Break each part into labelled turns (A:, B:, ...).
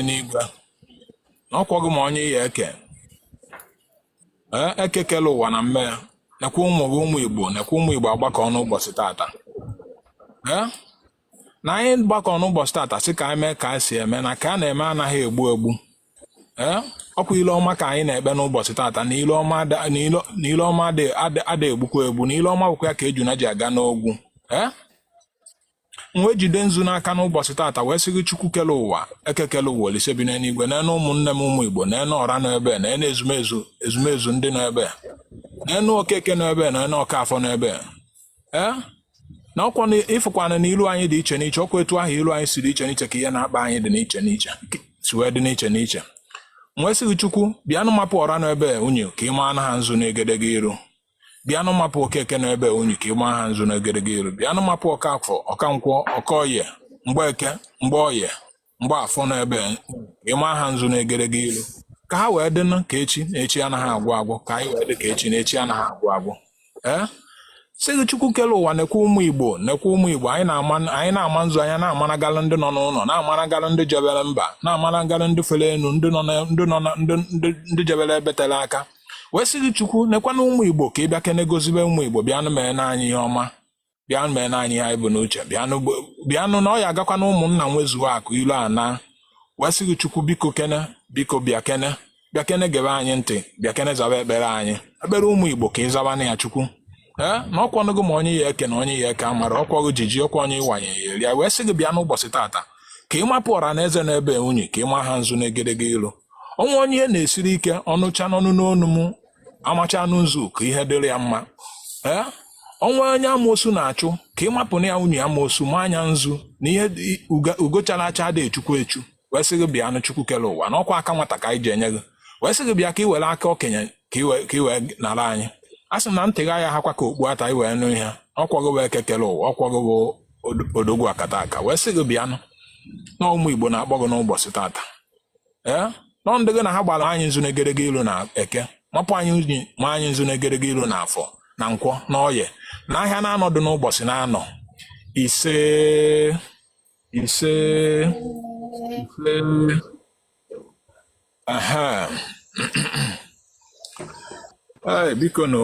A: n'igwe na ọkwa gị ma onye ị ya-eke ee eke kele ụwa na mme ya nekwa ụmụ gị ụmụ igbo nekwa ụmụ igbo agbakọ n'ụbọchị tata ee na anyị gbakọ n'ụbọchị tata sị ka anyị mee ka anyị si eme na ka a na-eme anaghị egbu egbu ee ọkwa ile ọma ka anyị na-ekpe n'ụbọchị tata na ile ọma ada egbukwa egbu na ile ọma bụkwa ya ka ejuna ji aga n'ogwu ee m wee jide nzu n'aka n'ụbọchị tata wee sị gị chukwu kele ụwa eke kele ụwa olise bi n'eluigwe nenụ ụmụnne m ụmụ igbo nenụ ọra nọ ebe nenụ ezumezu ezumezu ndị nọ ebe nenụ okeke nọ ebe nenụ ọkafọ nọ ebe ee eh? na ọkwa ị fụkwana na ilu anyị dị iche n'iche ọkwa etu ahụ ilu anyị si dị iche n'iche ka ihe na-akpa anyị dị n'iche n'iche si wee dị n'iche n'iche m wee sị gị chukwu bịanụ mapụ ọra nọ ebe unyi ka ị maa na ha nzu n'egedege iru bịanụ mapụ okeke nọ ebe unyi ka ị ma ha nzu n'egedege iru bịanụ mapụ ọkafọ ọkankwọ ọkọye mgbeke mgbeoye mgbeafọ nọ ebe ị ma ha nzu n'egedege iru ka ha wee dịnụ ka echi na echi anaghị agwụ agwụ ka anyị wee dị ka echi na echi anaghị agwụ agwụ ee sị gị chukwu kele ụwa nekwa ụmụ igbo nekwa ụmụ igbo anyị na-ama nzu anyị na-amanagalụ ndị nọ n'ụlọ na-amanagalụ ndị jebere mba na-amanagalụ ndị fere enu ndị nọ ndị jebere ebe tele aka wee sị gị chukwu nekwana ụmụ igbo ka ị bịa kene gozibe ụmụ igbo bịanụ mee na anyị ihe ọma bịanụ mee na anyị ihe anyị bu n'uche bịanụ gbo- bịanụ na ọ ya agakwa na ụmụnna nwezuo akụ ilo anaa wee sị gị chukwu biko kene biko bịa kene bịa kene gebe anyị ntị bịa kene zaba ekpere anyị ekpere ụmụ igbo ka ị zaba na ya chukwu ee na ọkwanụ gị ma onye ị ya-eke na onye ị ya-eke amarọ ọkwa gị ji ji ọkwa onye ị wanye ya erie ya wee sị gị bịa n'ụbọchị tata ka ị mapụ ọra na eze nọ ebe unyi ka ị ma ha nzu n'egedege ilu o nwee onye ihe na-esiri ike ọ nụcha n'ọnụ n'onu m amacha nụ nzu ka ihe dịrị ya mma ee o nwee onye amoosu na-achụ ka ị mapụ na ya unyi amoosu ma na ya nzu na ihe dị- uga- ugochara acha ada echukwu echu wee sị gị bịa nụ chukwu kere ụwa na ọkwa aka nwata ka anyị ji enye gị wee sị gị bịa ka ị were aka okenye ka ị wee- ka ị wee nara anyị a sị m na ntị gị agaghị ahakwa ka okpu ata ị wee nụ ihe ọkwa gị bụ eke kere ụwa ọkwa gị bụ od- odogwu akataka wee sị gị bịa nụ na ụmụ igbo na-akpọ gị n'ụbọchị tata ee nọ ndị gị na ha gbara ma anyị nzu n'egedege ilu na eke mapụ anyị unyi ma anyị nzu n'egedege ilu na afọ na nkwọ na ọye na ahịa n'anọ dụ n'ụbọchị n'anọ isee isee isee aha ee biko nụ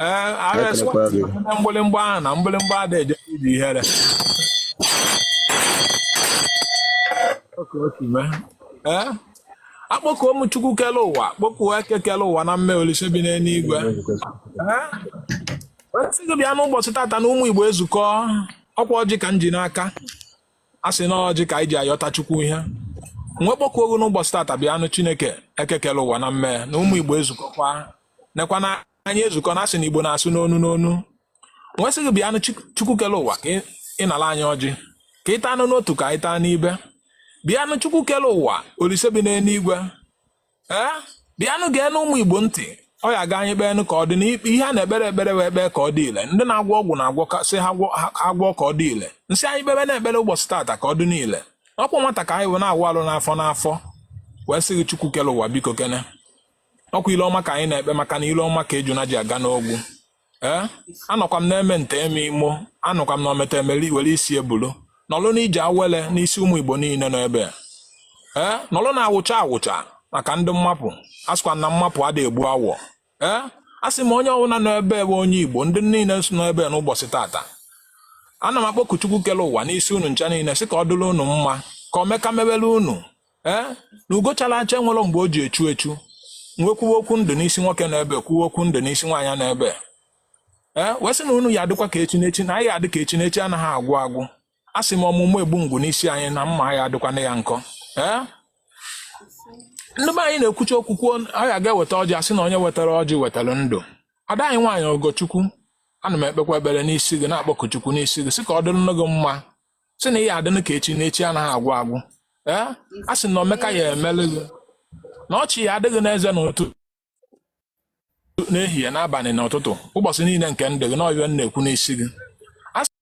A: ee asị m unu na mgbịlịmgba ahụ na mgbịlịmgba ada eje ije ihere ee akpọkuo m chukwu kele ụwa kpọkuo eke kele ụwa na mme olise bi n'eluigwe sị gị bịa n'ụbọchị tata na ụmụ igbo ezukọ ọkwa ọjị ka m ji n'aka a sị na ọjị ka anyị ji ayọta chukwu ihe m wee kpọkuo gị n'ụbọchị tata bịanụ chineke eke kele ụwa na mme na ụmụ igbo ezukọkwa nekwa na anyị ezukọ na asị na igbo na-asụ n'olu n'olu wee sị gị bịanụ chukwu kele ụwa ka ị nala anyị ọjị ka ị taanụ n'otu ka anyị taa n'ibe bịanụ chukwu kele ụwa olise bi n'eluigwe ee bịanụ geenụ ụmụ igbo ntị ọ ya aga anyị kpeenụ ka ọ dị n'ikpe ihe a na-ekpere ekpere wee kpee ka ọ dị ile ndị na-agwọ ọgwụ na-agwọ sị ha agwọ ka ọ dị ile m sị anyị kpebenụ ekpere ụbọchị taata ka ọ dịnụ ile ọkwa nwata ka anyị wee na-awụ alụ n'afọ n'afọ wee sị gị chukwu kele ụwa biko kene ọkwa ile ọma ka anyị na-ekpe maka na ile ọma ka ejuna ji aga n'ogwu ee eh? anọkwa m na-eme nta eme imo anọkwa m na ometa emeli were isi ebulu nọlụ na ije awele n'isi ụmụ igbo niile nọ ebe ee eh? nọlụ na-awụcha awụcha maka ndị mmapụ asịkwa na mmapụ ada egbu awọ ee eh? a sị m onye ọbụla nọ ebe bụ onye igbo ndị niile nọ ebe n'ụbọchị tata ana m akpọku Chukwu kele ụwa n'isi unu ncha niile sị ka ọ dịrị unu mma ka omeka mebere unu ee na ugo chara acha enwerọ mgbe o ji echu echu m wee kwuwe okwu ndụ n'isi nwoke nọ ebe kwuwe okwu ndụ n'isi nwaanyị nọ ebe ee wee sị na unu ya adịkwa ka echi n'echi na anyị adị ka echi na echi anaghị agwụ agwụ a sị m ọmụmụ egbu ngwu n'isi anyị na mma anyị adịkwana ya nkọ ee ndị be anyị na-ekwucha okwu kwuo anyị aga-eweta ọjị asị na onye wetara ọjị wetara ndụ ada anyị nwaanyị ogochukwu ana m ekpekwa ekpere n'isi gị na-akpọku chukwu n'isi gị sị ka ọ dịrịnụ gị mma sị na ị ya adịnụ ka echi na echi anaghị agwụ agwụ ee a sị na omeka ya emele gị na ọchị ya adị gị n'eze n'ụtụ n'ehihie n'abalị n'ụtụtụ ụbọchị niile nke ndụ gị na ọ bụ ya m na-ekwu n'isi gị